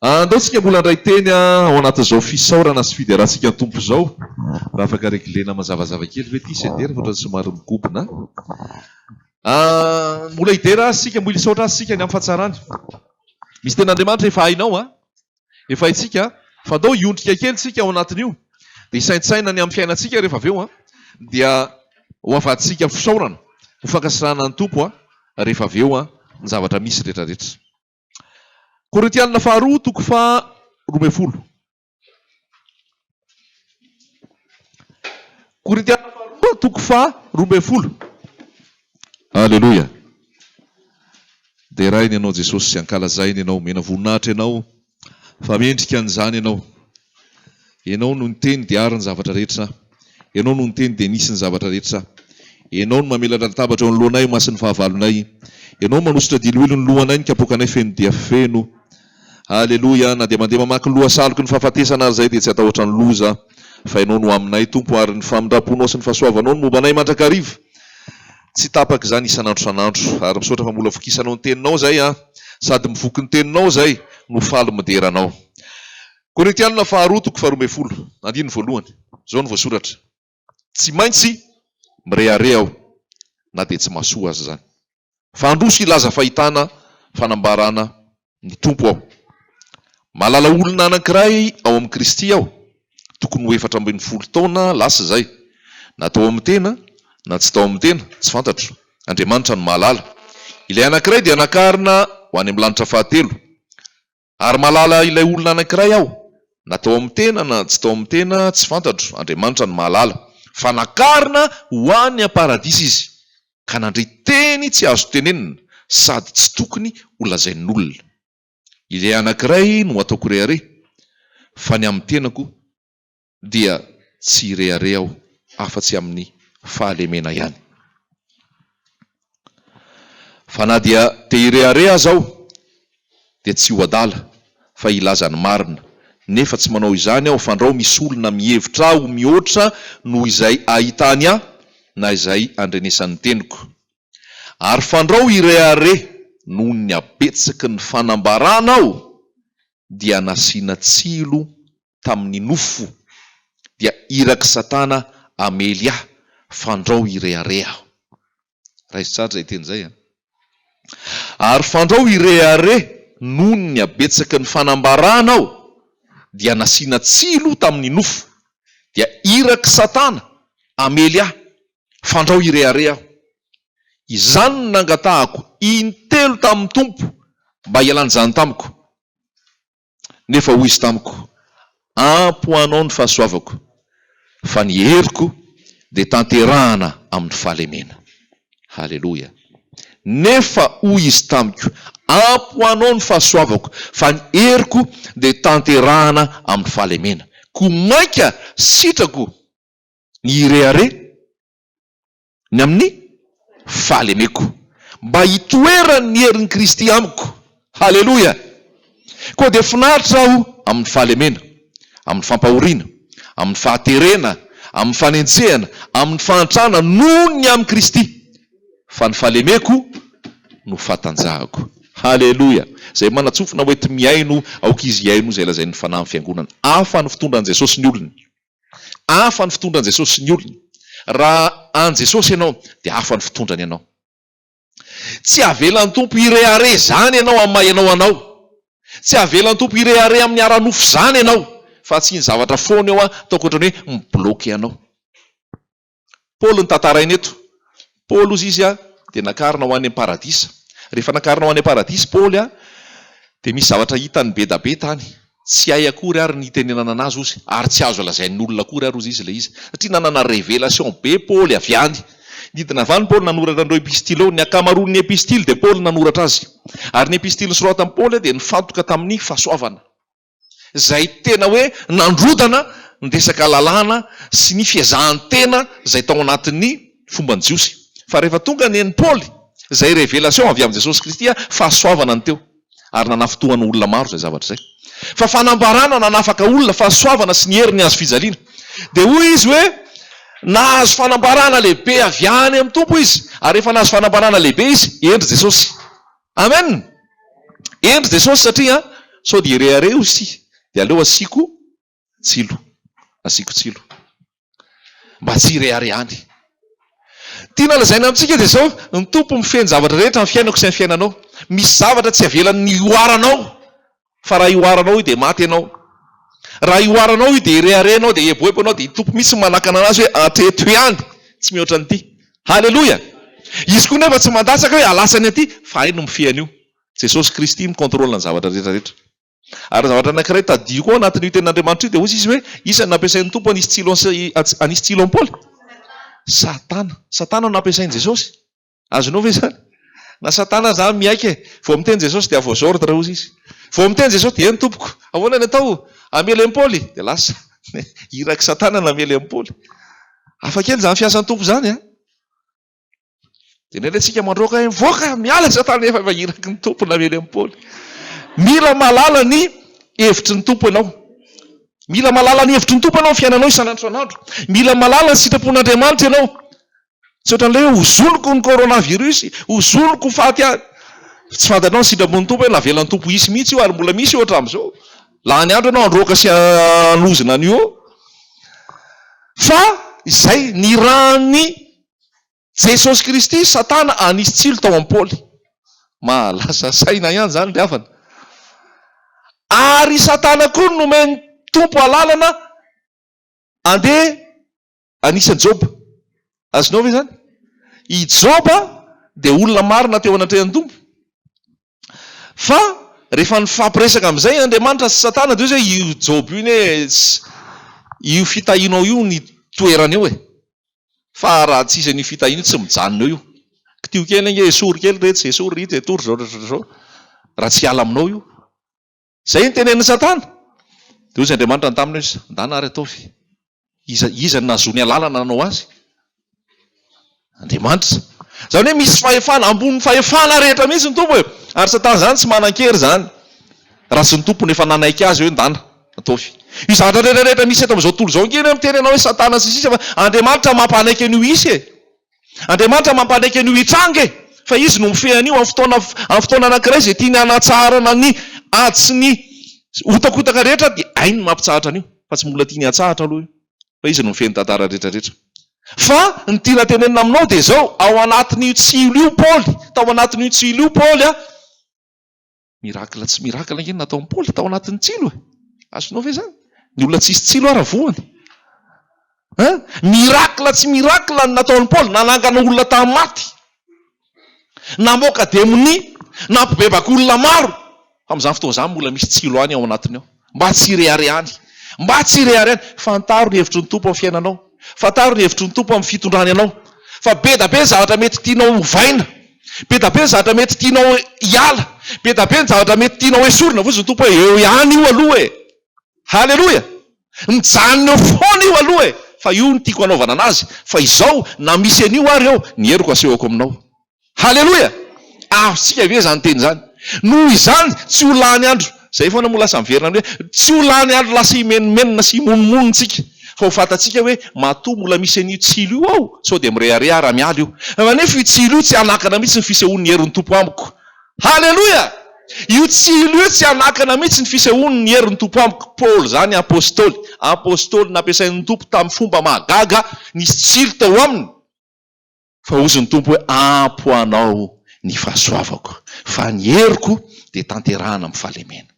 Andao tsika mbola handray teny ao anatin'izao fisaorana sy fiderantsika ny Tompo izao. Raha afaka reglena mazavazava kely ve ity sedera fa ohatran'ny somary mikobona. Mbola hidera Azy isika, mbola hisaotra Azy isika ny amin'ny fahatsarany. Misy tenin'Andriamanitra efa hainao an. Efa haintsika fa andao hiondrika kely tsika ao anatin'io dia hisaintsaina ny amin'ny fiainantsika rehefa avy eo an. Dia ho avadintsika fisaorana, ho fankasitrahana ny Tompo rehefa avy eo ny zavatra misy rehetra rehetra. Korintianina faharoa toko faha roa ambin'ny folo Korintianina faharoa toko faha roa ambin'ny folo Aleloia Deraina ianao Jesosy Ankalazaina ianao Omena voninahitra ianao Fa mendrika an'izany ianao Ianao no niteny dia ary ny zavatra rehetra. Ianao no niteny dia nisy ny zavatra rehetra. Ianao no mamelatra latabatra eo anoloanay ho masin'ny fahavalonay. Ianao no manosotra diloilo ny lohanay ny kapoakanay feno dia feno. Aleloia, na dia mandeha mamaky ny lohasaloky ny fahafatesana ary izahay dia tsy hatahotra ny loza fa Ianao no aminay Tompo ary ny famindramponao sy ny fahasoavanao no momba anay mandrakariva. Tsy tapaka izany isan'andro isan'andro. Ary misaotra fa mbola vokisanao ny teninao izay an! Sady mivoky ny teninao izay no faly midera anao. Korintianina faharoa toko faharoa ambin'ny folo, andininy voalohany. Izao no voasoratra, Tsy maintsy mirehareha aho na dia tsy mahasoa aza izany. Fa handroso hilaza fahitana, fanambarana, ny Tompo aho. Mahalala olona anankiray ao amin'i Kristy aho, tokony ho efatra ambin'ny folo taona lasa izay, na tao amin'ny tena na tsy tao amin'ny tena, tsy fantatro, Andriamanitra no mahalala. Ilay anankiray dia nakarina ho any amin'ny lanitra fahatelo. Ary mahalala ilay olona anankiray aho, na tao amin'ny tena na tsy tao amin'ny tena, tsy fantatro, Andriamanitra no mahalala, fa nakarina ho any am-paradisa izy. ka nandre teny tsy azo tenenina sady tsy tokony ho lazain'olona. Ilay anankiray no ataoko rehareha fa ny amin'ny tenako dia tsy hirehareha aho afa-tsy amin'ny fahalemena ihany. Fa na dia te hirehareha aza aho dia tsy ho adala fa hilaza ny marina, nefa tsy manao izany aho fandrao misy olona mihevitra ahy ho mihoatra noho izay ahitany ahy na izay andrenesan'ny teniko. Ary fandrao hirehareha noho ny habetsaky ny fanambarana aho dia nasiana tsilo tamin'ny nofo dia irak'i Satana hamely ahy fandrao hirehareha aho. Raiso tsara izay teny izay an! Ary fandrao hirehareha noho ny habetsaky ny fanambarana aho dia nasiana tsilo tamin'ny nofo, dia irak'i Satana hamely ahy, fandrao hirehareha aho. Izany no nangatahako intelo tamin'ny Tompo mba hialany izany tamiko. Nefa hoy izy tamiko, Ampy ho anao ny fahasoavako, fa ny heriko dia tanterahana amin'ny fahalemena. Haleloia. Nefa hoy izy tamiko, Ampy ho anao ny fahasoavako, fa ny heriko dia tanterahana amin'ny fahalemena. Koa mainka sitrako ny hirehareha. ny amin'ny fahalemeko, mba hitoeran'ny herin'i Kristy amiko. Haleloia! Koa dia finaritra aho amin'ny fahalemena, amin'ny fampahoriana, amin'ny fahaterena, amin'ny fanenjehana, amin'ny fahantrana, noho ny amin'i Kristy, fa ny fahalemeko no fahatanjahako. Haleloia! Izay manatsofina hoety mihaino, aoka izy hihaino izay lazain'ny Fanahin'ny Fiangonana. Hafa ny fitondran'i Jesosy ny olony. Hafa ny fitondran'i Jesosy sy ny olony. Raha an'i Jesosy ianao, dia hafa ny fitondrany anao. Tsy avelan'ny Tompo hirehareha izany ianao amin'ny maha ianao anao. Tsy avelan'ny Tompo hirehareha amin'ny ara-nofo izany ianao, fa tsy ny zavatra foana eo an-taoko ohatran'ny hoe mi-bloquer anao. Paoly no tantaraina eto. Paoly ozy izy dia nakarina ho any am-paradisa. Rehefa nakarina ho any am-paradisa i Paoly dia misy zavatra hitany bedabe tany. Tsy hay akory ary ny hitenenana anazy ozy ary tsy azo lazain'ny olona akory ary ozy izy ilay izy satria nanana révélation be Paoly avy any. Nidina avy any Paoly nanoratra an'ireo epistileo. Ny ankamaroan'ny epistily dia Paoly no nanoratra azy. Ary ny epistiliny soratan'i Paoly dia nifantoka tamin'ny fahasoavana. izay tena hoe nandrodana ny resaka lalàna sy ny fiezahan-tena izay tao anatin'ny fomban'ny Jiosy. Fa rehefa tonga ny an'i Paoly, izay revelation avy amin'i Jesosy Kristy a, fahasoavana no teo. Ary nanafintohana olona maro izay zavatra izay. Fa fanambarana nanafaka olona, fahasoavana sy ny hery ny hazofijaliana. Dia hoy izy hoe, nahazo fanambarana lehibe avy any amin'ny Tompo izy. Ary rehefa nahazo fanambarana lehibe izy, hendry Jesosy. Amen! Hendry Jesosy satria sao dia irehareo isi dia aleo asiako tsilo. Asiako tsilo. Mba tsy ireharehany. Tiana lazaina amintsika dia zao, ny Tompo mifehy ny zavatra rehetra amin'ny fiainako sy ny fiainanao. Misy zavatra tsy avelan'ny hihoaranao. fa raha ihoaranao io dia maty ianao. Raha ihoaranao io dia irehareha ianao, dia hieboebo ianao, dia iny Tompo mihitsy no manakana an'azy hoe hatreto ihany, tsy mihoatra an'ity. Haleloia! Izy koa nefa tsy mandatsaka hoe halasany aty, fa hay no mifehy an'io. Jesosy Kristy mi-contrôle ny zavatra rehetra rehetra. Ary zavatra anankiray tadidio koa ao anatin'io tenin'Andriamanitra io dia hozy izy hoe iza no nampiasain'ny Tompo hanisy tsilo an'i tsilo an'i Paoly? Satana. Satana no nampiasain'i Jesosy. Azonao ve izany? Na satana aza an miaiky e! Vao miteny Jesosy dia vos ordres hozy izy. Vao miteny Jesosy dia eny tompoko, ahoana ny atao? Hamely an'i Paoly? Dia lasa. Irak'i satana namely an'i Paoly. Hafa kely izany fiasan'ny Tompo izany an! Dia indray indray tsika mandroaka hoe mivoaka, miala satana efa efa iraky ny Tompo namely an'i Paoly. Mila mahalala ny hevitry ny Tompo ianao. Mila mahalala ny hevitry ny Tompo ianao amin'ny fiainanao isan'andro isan'andro. Mila mahalala ny sitrapon'Andriamanitra ianao. Tsy ohatran'ilay hoe hozoniko ny coronavirus, hozoniko ho faty aho. Tsy fantatrao ny sitrapony Tompo hoe navelan'ny Tompo hisy mihitsy io ary mbola misy io hatramin'izao. Lany andro ianao handroaka sy hanozona an'io eo. Fa izay nirahan'i Jesosy Kristy satana hanisy tsilo tao amin'i Paoly. Mahalasa saina ihany izany ry havana. Ary satana koa no nomen'ny Tompo alalana handeha Anisan'i Joba. Azonao ve izany? I Joba dia olona marina teo anatrehan'ny Tompo. Fa rehefa nifampiresaka amin'izay Andriamanitra sy Satana dia hoe io Joba io anie io fitahianao io ny toerany eo e. Fa raha tsy izy an'io fitahiana io tsy mijanona eo io. Kitio kely ange, esory kely iretsy, esory iretsy, etory izao, izao, izao, izao. Raha tsy hiala aminao io. Izay no tenenin'i Satana. Dia hoy Andriamanitra ny taminy hoe, Ndana ary ataovy. Iza, iza no nahazoany alalana nanao azy? Andriamanitra. Izany hoe misy fahefana, ambonin'ny fahefana rehetra mihitsy ny Tompo e! Ary Satana izany tsy manan-kery izany, raha tsy ny Tompo no efa nanaiky azy hoe, Ndana, ataovy. Io zavatra rehetra rehetra misy eto amin'izao tontolo izao ange, ianao miteny ianao hoe Satana sy ny sisa fa Andriamanitra mampanaiky an'io hisy e! Andriamanitra mampanaiky an'io hitranga e! Fa Izy no mifehy an'io amin'ny fotoana, amin'ny fotoana anankiray izay tiany hanatsarana ny ady sy ny hotakotaka rehetra dia hainy ny mampitsahatra an'io. Fa tsy mbola tiany hatsahatra aloha io. Fa Izy no mifehy ny tantara rehetra rehetra. Fa ny tiana tenenina aminao dia izao, ao anatin'io tsilo io Paoly, tao anatin'io tsilo io Paoly a, Miracle tsy miracle ange ny nataon'i Paoly tao anatin'ny tsilo e. Azonao ve izany? Ny olona tsisy tsilo ara voany. Hein? Miracle tsy miracle ny nataon'i Paoly, nanangana olona tamin'ny maty. Namoaka demonia, nampibebaka olona maro. Fa amin'izany fotoana izany mbola misy tsilo any ao anatiny ao. Mba tsy hireharehany. Mba tsy hireharehany. Fantaro ny hevitry ny Tompo amin'ny fiainanao. Fantaro ny hevitry ny Tompo amin'ny fitondrany anao. Fa be da be ny zavatra mety tianao hovaina. Be da be ny zavatra mety tianao hiala. Be da be ny zavatra mety tianao hesorina. Voizin'ny Tompo hoe, eo ihany io aloha e! Haleloia! Mijanona eo foana io aloha e! Fa io no tiako hanaovana anazy. Fa izao, na misy an'io ary eo, ny heriko asehoko aminao. Haleloia! Azontsika ve izany teny izany? Noho izany, tsy ho lany andro, izay foana moa lasa miverina amin'ny hoe, tsy ho lany andro lasa himenomenona sy himonomonona isika, fa ho fantatsika hoe matoa mbola misy an'io tsilo io ao, sao dia mirehareha ary hamiala io. Kanefa io tsilo io tsy hanakana mihitsy ny fisehoan'ny herin'ny Tompo amiko. Haleloia! Io tsilo io tsy hanakana mihitsy ny fisehoan'ny herin'ny Tompo amiko. Paoly izany Apostoly, Apostoly nampiasain'ny Tompo tamin'ny fomba mahagaga, nisy tsilo tao aminy. Fa hozy ny Tompo hoe, Ampy ho anao ny fahasoavako, fa ny heriko dia tanterahina amin'ny fahalemena.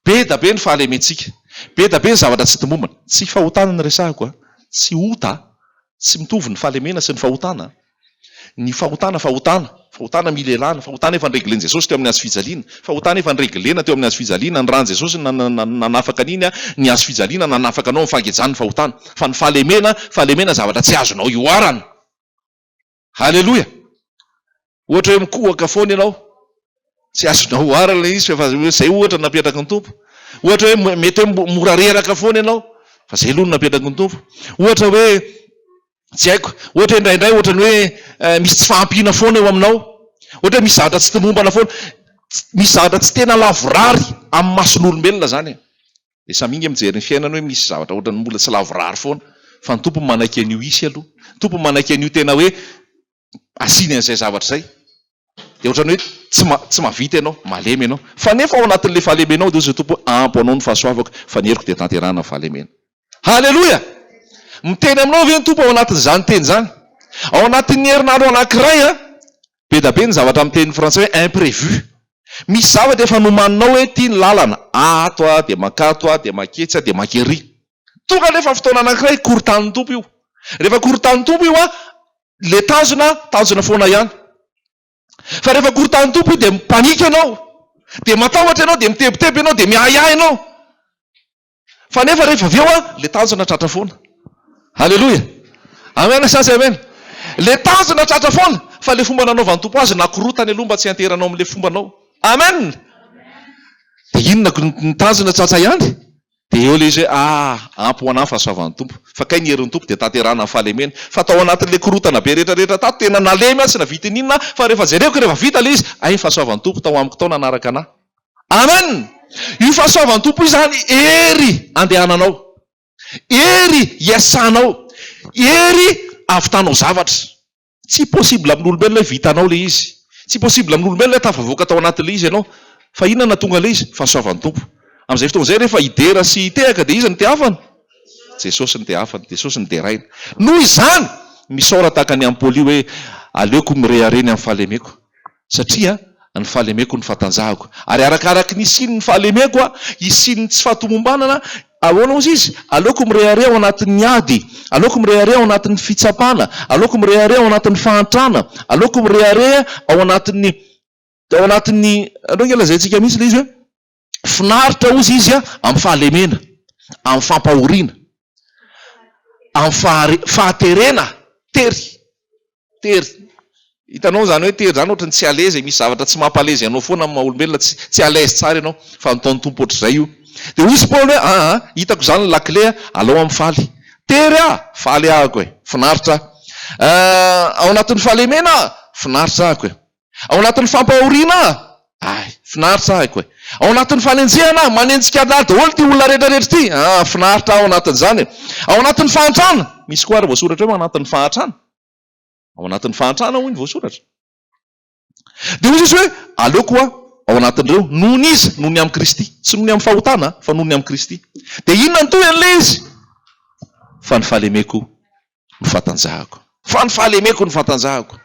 Be da be ny fahalementsika, be da be ny zavatra tsy tomombana. Tsy fahotana ny resahiko, tsy ota, tsy mitovy ny fahalemena sy ny fahotana. Ny fahotana, fahotana, fahotana milelana, fahotana efa nireglen'i Jesosy teo amin'ny hazofijaliana, fahotana efa nireglena teo amin'ny hazofijaliana, ny ran'i Jesosy nanafaka an'iny, ny hazofijaliana nanafaka anao amin'ny fahagejan'ny fahotana. Fa ny fahalemena, fahalemena zavatra tsy azonao ihoarana. Haleloia! Ohatra hoe mikohaka foana ianao, tsy azonao oharina ilay izy fa izay ohatra no napetraky ny Tompo. Ohatra hoe mety hoe mora reraka foana ianao fa izay aloha no napetraky ny Tompo. Ohatra hoe tsy haiko, ohatra hoe indraindray ohatran'ny hoe eh, misy tsy fahampiana foana eo aminao. Ohatra hoe misy zavatra tsy tomombana foana. Misy zavatra tsy tena lavorary amin'ny mason'olombelona izany. Dia samy inga mijery ny fiainana hoe misy zavatra ohatran'ny mbola tsy lavorary foana fa ny Tompo manaiky an'io hisy aloha. Ny Tompo manaiky an'io tena hoe asiany an'izay zavatra izay. Dia ohatran'ny hoe tsy tsy mahavita ianao, malemy ianao. Fa nefa ao anatin'ilay fahalemenao dia hoy izay Tompo hoe ampy ho anao ny fahasoavako fa ny heriko dia tanterahana ny fahalemena. Haleloia! Miteny aminao ve ny Tompo ao anatin'izany teny izany? Ao anatin'ny herinandro anankiray an! Be da be ny zavatra amin'ny teny frantsay hoe imprévu. Misy zavatra efa nomaninao hoe ity ny lalana, ato aho, dia mankato aho, dia manketsy aho, dia mankery. Tonga anefa fotoana anankiray korontanin'ny Tompo io. Rehefa korontanin'ny Tompo io an, ilay tanjona, tanjona foana ihany. Fa rehefa korontanin'ny Tompo io dia mipanika ianao, dia matahotra ianao, dia mitebiteby ianao, dia miahiahy ianao. Fa nefa rehefa avy eo an, le tanjona tratra foana. Aleloia. Amen sa tsy amen. Le tanjona tratra foana. Fa le fomba nanaovan'ny Tompo azy nakorotany aloha mba tsy hianteheranao amin'le fombanao. Amen. De inona ny tanjona tratra ihany? De eo le izy hoe ah ampy ho anah ny fahasoavan'ny Tompo. Fa kay ny herin'ny Tompo dia tanterahana ny fahalemeny. Fa tao anatin'le korotana be rehetra rehetra tato tena nalemy aho tsy nahavita in'inona fa rehefa jereko rehefa vita le izy hay ny fahasoavan'ny Tompo tao amiko tao nanaraka anah. Amen! Io fahasoavan'ny Tompo izany hery andehananao, hery iasanao, hery ahavitanao zavatra. Tsy possible amin'olombelona hoe vitanao ilay izy, tsy possible amin'olombelona hoe tafavoaka tao anatin'ilay izy ianao, fa inona no nahatonga ilay izy? Fahasoavan'ny Tompo. Amin'izay fotoana izay rehefa hidera sy hitehaka dia iza no tehafana? Jesosy no tehafana, Jesosy no deraina. Noho izany, misaora tahaka an'i Ampoly hoe, Aleoko mirehareha ny amin'ny fahalemeko. satria ny fahalemeko no fahatanjahako ary arakaraky ny hisian'ny fahalemeko hisian'ny tsy fahatomombanana ahoana ozy izy aleoko mirehareha ao anatin'ny ady aleoko mirehareha ao anatin'ny fitsapana aleoko mirehareha ao anatin'ny fahantrana aleoko mirehareha ao anatin'ny ao anatin'ny andrao nge lazaintsika mihitsy le izy hoe Finaritra hozy izy amin'ny fahalemena, amin'ny fampahoriana, amin'ny fahare, fahaterena, tery, tery. Hitanao izany hoe tery izany ohatry ny tsy à l'aise e, misy zavatra tsy mampalezy anao foana amin'ny maha olombelona, tsy, tsy à l'aise tsara ianao, fa nataon'ny Tompo ohatr'izay io. Dia hozy Paoly hoe, aa, hitako izany ny lakile a, alao amin'ny faly. Tery aho, faly ahako e, finaritra aho. Aa, ao anatin'ny fahalemena aho, finaritra ahako e. Ao anatin'ny fampahoriana ahy. Finaritra ahy koa e. Ao anatin'ny fanenjehana aho. Manenjika ahy daholo ity olona rehetrarehetra ity. Ah, finaritra aho ao anatin'izany e. Ao anatin'ny fahantrana. Misy koa ary voasoratra hoe ao anatin'ny fahantrana. Ao anatin'ny fahantrana hoy ny voasoratra. Dia hoy Jesoa hoe, aleoko aho ao anatin'ireo. Noho ny iza? Noho ny amin'i Kristy. Tsy noho ny amin'ny fahotana, fa noho ny amin'i Kristy. Dia inona no tohin'ilay izy? Fa ny fahalemeko ny fatanjahako. Fa ny fahalemeko no fatanjahako.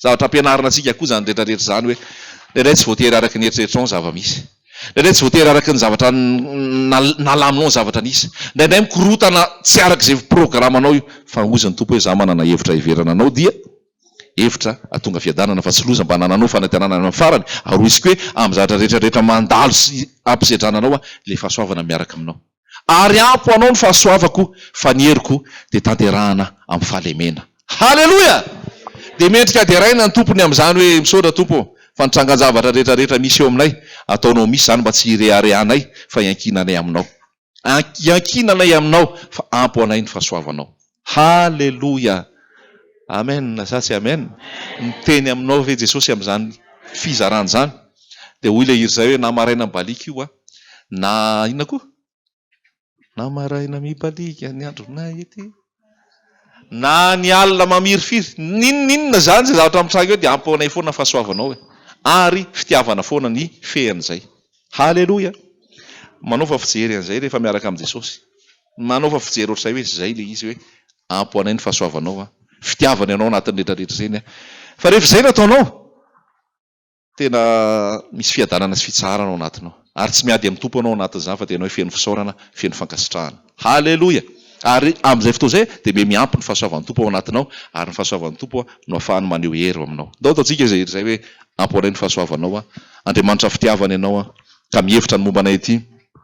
Zavatra ampianarina antsika koa izany rehetra rehetra izany hoe indraindray tsy voatery araka ny eritreritrinao ny zava-misy. Indraindray tsy voatery araka ny zavatra nalaminao ny zavatra nisy. Indraindray mikorotana tsy araka izay programanao io. Fa hozy ny Tompo hoe za manana hevitra heverana anao dia hevitra hatonga fiadanana fa tsy loza mba nananao fanatenana any amin'ny farany ary hoiziko hoe amin'ny zavatra rehetra rehetra mandalo sy ampisedrana anao aho le fahasoavana miaraka aminao. ary ampy ho anao ny fahasoavako fa ny heriko dia tanterahana amin'ny fahalemena. Haleloia! Dia mendrika deraina ny tompony amin'izany hoe, Misaotra Tompo ô, fa ny trangan-javatra rehetra rehetra misy eo aminay, ataonao misy izany mba tsy hireharehanay fa iankinanay aminao. Iankinanay aminao fa ampy ho anay ny fahasoavanao. Haleloia! Amen sa tsy amen? Miteny aminao ve Jesosy amin'izany fizarana izany? Dia hoy ilay hira izay hoe, na maraina mibaliaka io aho, na inona koa? Na maraina mibaliaka ny andronay ity, na ny alina mamirifiry, n'inon'inona izany izay zavatra mitranga eo dia ampy anay foana ny fahasoavanao e! ary fitiavana foana ny hifehy an'izay. Haleloia! Manaova fijery an'izay rehefa miaraka amin'i Jesosy. Manaova fijery ohatr'izay hoe izay ilay izy hoe ampy ho anay ny fahasoavanao an! Fitiavana ianao anatin'ny rehetra rehetra izay ny ahy. Fa rehefa izay no ataonao, tena misy fiadanana sy fitsaharana ao anatinao. Ary tsy miady amin'ny Tompo ianao ao anatin'izany fa dia ianao feno fisaorana, feno fankasitrahana. Haleloia! Ary amin'izay fotoana izay dia miha miampy ny fahasoavan'ny Tompo ao anatinao ary ny fahasoavan'ny Tompo no ahafahany maneho hery eo aminao. Ndao ataontsika izay rehetra izay hoe ampy ho anay ny fahasoavanao an! Andriamanitra fitiavana ianao an! Ka mihevitra ny momba anay ity.